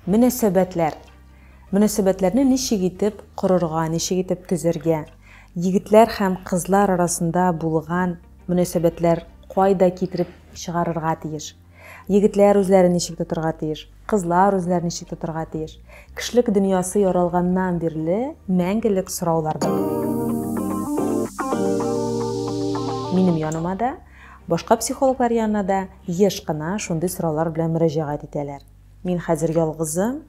Мөнәсәбәтләр. Мөнәсәбәтләрне ничек итеп корырга, ничек итеп төзәргә? Егетләр һәм кызлар арасында булган мөнәсәбәтләр кайда китереп чыгарырга тиеш? Егетләр үзләрен ничек тотырга тиеш? Кызлар үзләрен ничек тотырга тиеш? Кешелек дөньясы яралганнан бирле мәңгелек сораулардыр бу. Минем яныма да, башка психологлар янына да еш кына шундый сораулар белән мөрәҗәгать итәләр. Мин хәзер ялгызым,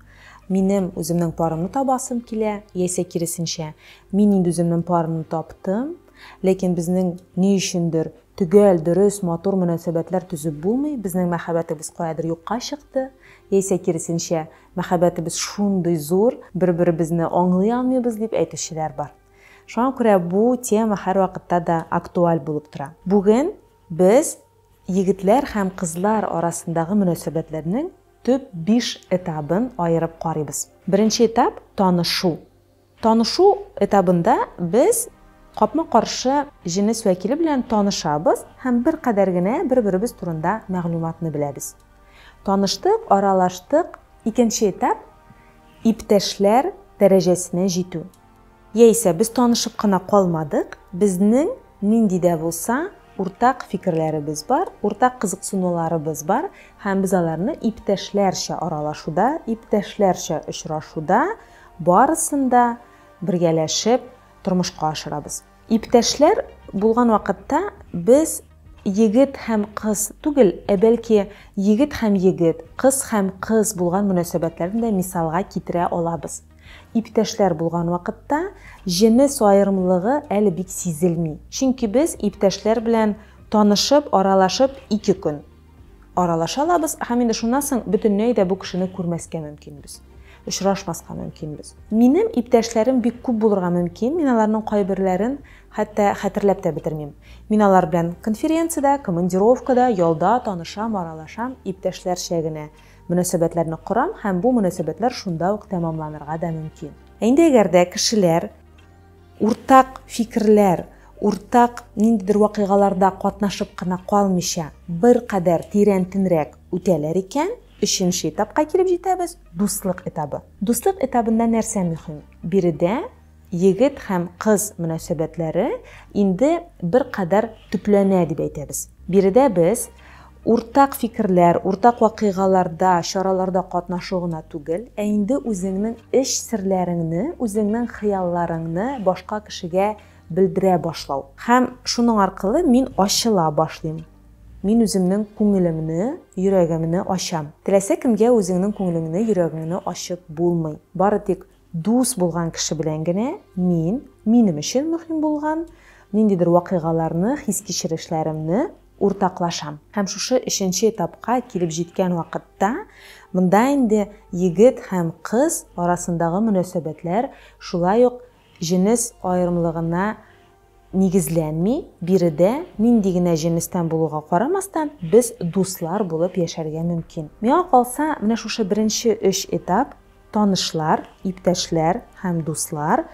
минем үземнең парымны табасым килә, яисә киресенчә, мин инде үземнең парымны таптым, ләкин безнең ни өчендер төгәл, дөрес, матур мөнәсәбәтләр төзеп булмый, безнең мәхәббәтебез каядыр юкка чыкты, яисә киресенчә, мәхәббәтебез шундый зур, бер-беребезне аңлый алмыйбыз, дип әйтүчеләр бар. Шуңа күрә бу тема һәрвакытта да актуаль булып тора. Бүген без Егетләр һәм кызлар арасындагы мөнәсәбәтләрнең төп биш этабын аерып карыйбыз. Беренче этап, танышу. Танышу этабында без капма-каршы җенес вәкиле белән танышабыз һәм беркадәр генә бер-беребез турында мәгълүматны беләбез. Таныштык, аралаштык, икенче этап, иптәшләр дәрәҗәсенә җитү. Яисә без танышып кына калмадык, безнең нинди дә булса уртак фикерләребез бар, уртак кызыксынуларыбыз бар һәм без аларны иптәшләрчә аралашуда, иптәшләрчә очрашуда барысын да бергәләшеп тормышка ашырабыз. Иптәшләр булган вакытта без егет һәм кыз түгел, ә бәлки егет һәм егет, кыз һәм кыз булган мөнәсәбәтләрне дә мисалга китерә алабыз. Иптәшләр булган вакытта җенес аерымлыгы әле бик сизелми. Чөнки без иптәшләр белән танышып, аралашып ике көн аралаша алабыз, һәм инде шуннан соң бөтенләй дә бу кешене күрмәскә мөмкинбез, очрашмаска мөмкинбез. Минем иптәшләрем бик күп булырга мөмкин, мин аларның кайберләрен хәтта хәтерләп тә бетермим. Мин алар белән конференциядә, командировкада, ялда танышам, аралашам, иптәшләрчә генә. Мөнәсәбәтләрне корам һәм бу мөнәсәбәтләр шунда ук тәмамланырга да мөмкин. Ә инде әгәр дә кешеләр уртак фикерләр, уртак ниндидер вакыйгаларда катнашып кына калмыйча, беркадәр тирәнтенрәк үтәләр икән, өченче этапка килеп җитәбез, дуслык этабы. Дуслык этабында нәрсә мөһим? Биредә Егет һәм кыз мөнәсәбәтләре инде беркадәр төпләнә дип әйтәбез. Биредә без уртак фикерләр, уртак вакыйгаларда, чараларда катнашу гына түгел, ә инде үзеңнең эч серләреңне, үзеңнең хыялларыңны башка кешегә белдерә башлау. Һәм шуның аркылы мин ачыла башлыйм. Мин үземнең күңелемне, йөрәгемне ачам. Теләсә кемгә үзеңнең күңелеңне, йөрәгеңне ачып булмый. Бары тик Дус булган кеше белән генә мин минем өчен мөһим булган ниндидер вакыйгаларны, хис-кичерешләремне уртаклашам. Һәм шушы өченче этапка килеп җиткән вакытта, монда инде егет һәм кыз арасындагы мөнәсәбәтләр шулай ук җенес аерымлыгына нигезләнми, биредә, нинди генә җенестән булуга карамастан, без дуслар булып яшәргә мөмкин. Миңа калса, менә шушы беренче өч этап, танышлар, иптәшләр һәм дуслар,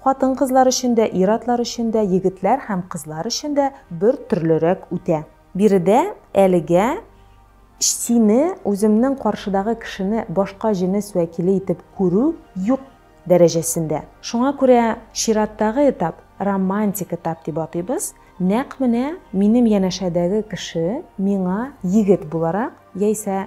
хатын-кызлар өчен дә, ир-атлар өчен дә, егетләр һәм кызлар өчен дә бер төрлерәк үтә. Биредә әлегә сине, үземнең каршыдагы кешене башка җенес вәкиле итеп күрү юк. дәрәҗәсендә. Шуңа күрә чираттагы этап, романтик этап дип атыйбыз, нәкъ менә минем янәшәдәге кеше миңа егет буларак, яисә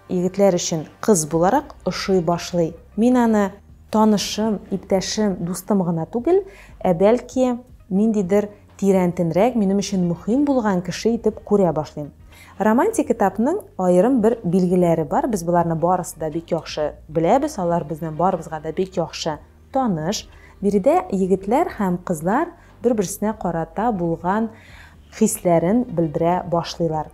егетләр өчен кыз буларак ошый башлый. Мин аны танышым, иптәшем, дустым гына түгел, ә бәлки ниндидер тирәнтенрәк, минем өчен мөхим булган кеше итеп күрә башлыйм. Романтик этапның аерым бер билгеләре бар, без боларны барысы да бик яхшы беләбез, алар безнең барыбызга да бик яхшы таныш. Биредә егетләр һәм кызлар бер-берсенә карата булган хисләрен белдерә башлыйлар.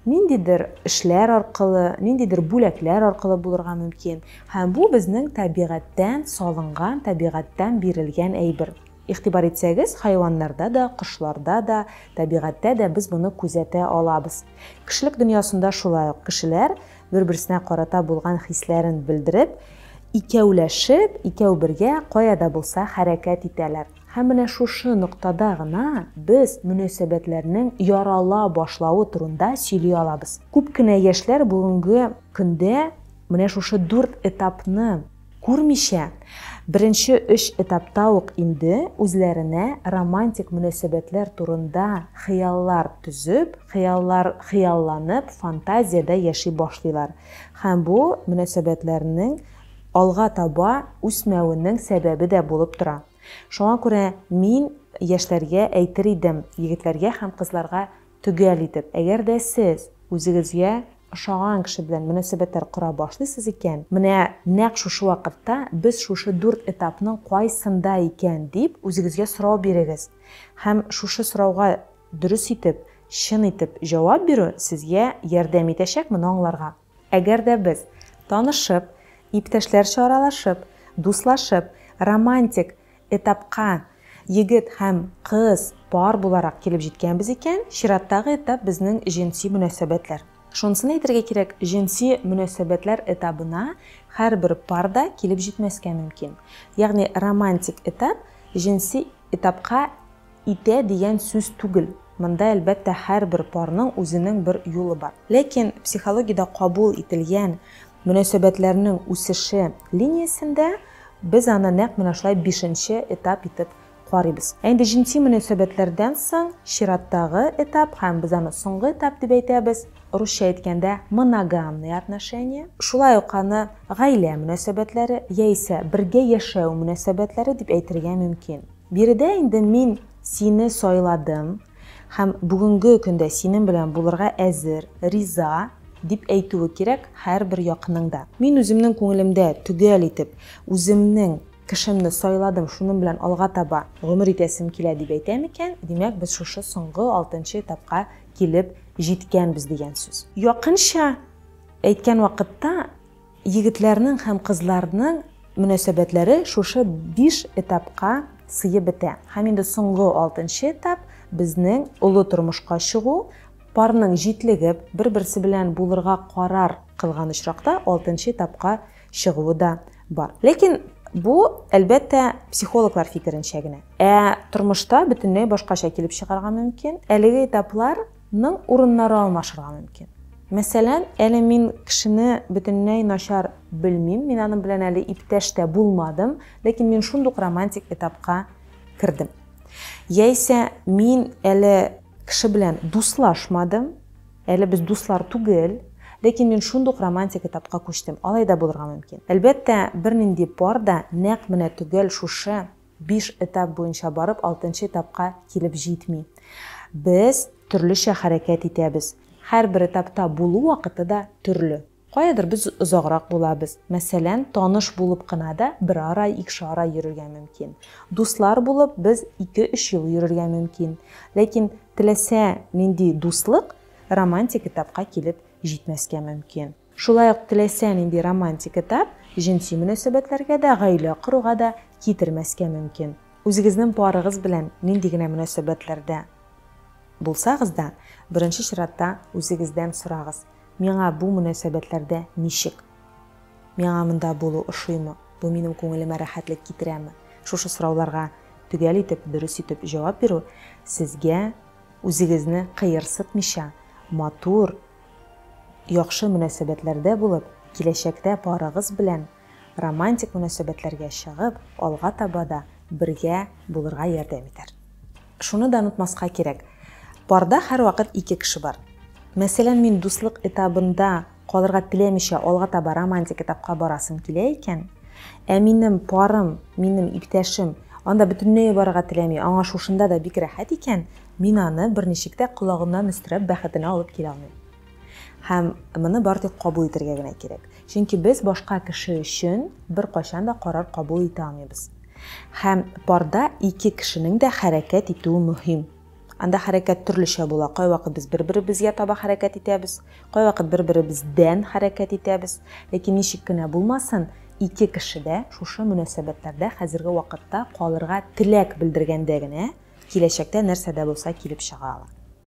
Ниндидер эшләр аркылы, ниндидер бүләкләр аркылы булырга мөмкин. Һәм бу безнең табигатьтән салынган, табигатьтән бирелгән әйбер. Игътибар итсәгез, хайваннарда да, кошларда да, табигатьтә дә без моны күзәтә алабыз. Кешелек дөньясында шулай ук кешеләр бер-берсенә карата булган хисләрен белдереп, икәүләшеп, икәү бергә кая да булса хәрәкәт итәләр. Һәм менә шушы ноктада гына без мөнәсәбәтләрнең ярала башлавы турында сөйли алабыз. Күп кенә яшьләр бүгенге көндә менә шушы дүрт этапны, Күрмичә, беренче өч этапта ук инде үзләренә романтик мөнәсәбәтләр турында хыяллар төзеп, хыяллар хыялланып, фантазиядә яши башлыйлар һәм бу мөнәсәбәтләрнең алга таба үсмәвенең сәбәбе дә булып тора. Шуңа күрә мин яшьләргә әйтер идем, егетләргә һәм кызларга Төгәл итеп, әгәр дә сез үзегезгә ошаган кеше белән мөнәсәбәтләр кора башлыйсыз икән, менә нәкъ шушы вакытта без шушы дүрт этапның кайсында икән, дип үзегезгә сорау бирегез. Һәм шушы сорауга дөрес итеп, чын итеп җавап бирү сезгә ярдәм итәчәк моны аңларга. Әгәр дә без, танышып, иптәшләрчә аралашып, дуслашып, романтик этапка егет һәм кыз пар буларак килеп җиткәнбез икән, чираттагы этап безнең җенси мөнәсәбәтләр. Шунысын әйтергә кирәк, җенси мөнәсәбәтләр этабына һәрбер пар да килеп җитмәскә мөмкин. Ягъни романтик этап җенси этапка Итә дигән сүз түгел. Монда, әлбәттә, һәрбер парның үзенең бер юлы бар. Ләкин психологиядә кабул ителгән мөнәсәбәтләрнең үсеше линиясендә без аны нәкъ менә шулай бишенче этап итеп карыйбыз. Ә инде җенси мөнәсәбәтләрдән соң чираттагы этап һәм без аны соңгы этап дип әйтәбез, русча әйткәндә, моногамные отношения, шулай ук аны гаилә мөнәсәбәтләре яисә бергә яшәү мөнәсәбәтләре дип әйтергә мөмкин. Биредә инде мин сине сайладым һәм бүгенге көндә синең белән булырга әзер, риза, дип әйтүе кирәк һәрбер якының да. Мин үземнең күңелемдә төгәл итеп, үземнең кешемне сайладым, шуның белән алга таба гомер итәсем килә, дип әйтә микән, димәк, без шушы соңгы алтынчы этапка килеп җиткәнбез дигән сүз. Якынча әйткән вакытта, Егетләрнең һәм кызларның мөнәсәбәтләре шушы биш этапка сыеп бетә. Һәм инде соңгы алтынчы этап, безнең олы тормышка чыгу, парның җитлегеп, бер-берсе белән булырга карар кылган очракта алтынчы этапка чыгуы да бар. Ләкин бу, әлбәттә, психологлар фикеренчә генә. Ә тормышта бөтенләй башкача килеп чыгарга мөмкин. Әлеге этаплар Ның урыннары алмашырга мөмкин. Мәсәлән, әле мин кешене бөтенләй начар белмим, мин аның белән әле иптәш тә булмадым, ләкин мин шундук романтик этапка кердем. Яисә мин әле кеше белән дуслашмадым, әле без дуслар түгел, ләкин мин шундук романтик этапка күчтем. Алай да булырга мөмкин. Әлбәттә, бернинди пар да нәкъ менә төгәл шушы Биш этап буенча барып, алтынчы этапка килеп җитми. Без төрлечә хәрәкәт итәбез. Һәрбер этапта булу вакыты да төрле. Каядыр без озаграк булабыз. Мәсәлән, таныш булып кына да берәр ай, икшәр ай йөрергә мөмкин. Дуслар булып без ике-өч ел йөрергә мөмкин. Ләкин теләсә нинди дуслык романтик этапка килеп җитмәскә мөмкин. Шулай ук теләсә нинди романтик этап җенси мөнәсәбәтләргә дә, гаилә коруга да китермәскә мөмкин. Үзегезнең парыгыз белән нинди генә мөнәсәбәтләрдә булсагыз да, беренче чиратта үзегездән сорагыз, Миңа бу мөнәсәбәтләрдә ничек? Миңа монда булу ошыймы? Бу минем күңелемә рәхәтлек китерәме? Шушы сорауларга төгәл итеп, дөрес итеп җавап бирү сезгә үзегезне кыерсытмыйча, матур, Яхшы мөнәсәбәтләрдә булып, киләчәктә парыгыз белән романтик мөнәсәбәтләргә чыгып, алга таба да бергә булырга ярдәм итәр. Шуны да онытмаска кирәк, парда һәрвакыт ике кеше бар. Мәсәлән, мин дуслык этабында калырга теләмичә алга таба романтик этапка барасым килә икән, ә минем парым, минем иптәшем анда бөтенләй барырга теләми, аңа шушында да бик рәхәт икән, Мин аны берничек тә колагыннан өстерәп бәхетенә алып килә алмыйм. Һәм моны бары тик кабул итәргә генә кирәк. Чөнки без башка кеше өчен беркайчан да карар кабул итә алмыйбыз. Һәм парда ике кешенең дә хәрәкәт итүе мөһим. Анда хәрәкәт төрлечә була, кайвакыт без бер-беребезгә таба хәрәкәт итәбез, Кайвакыт бер-беребездән хәрәкәт итәбез. Ләкин ничек кенә булмасын, ике кеше дә шушы мөнәсәбәтләрдә хәзерге вакытта калырга теләк белдергәндә генә киләчәктә нәрсә дә булса килеп чыга ала.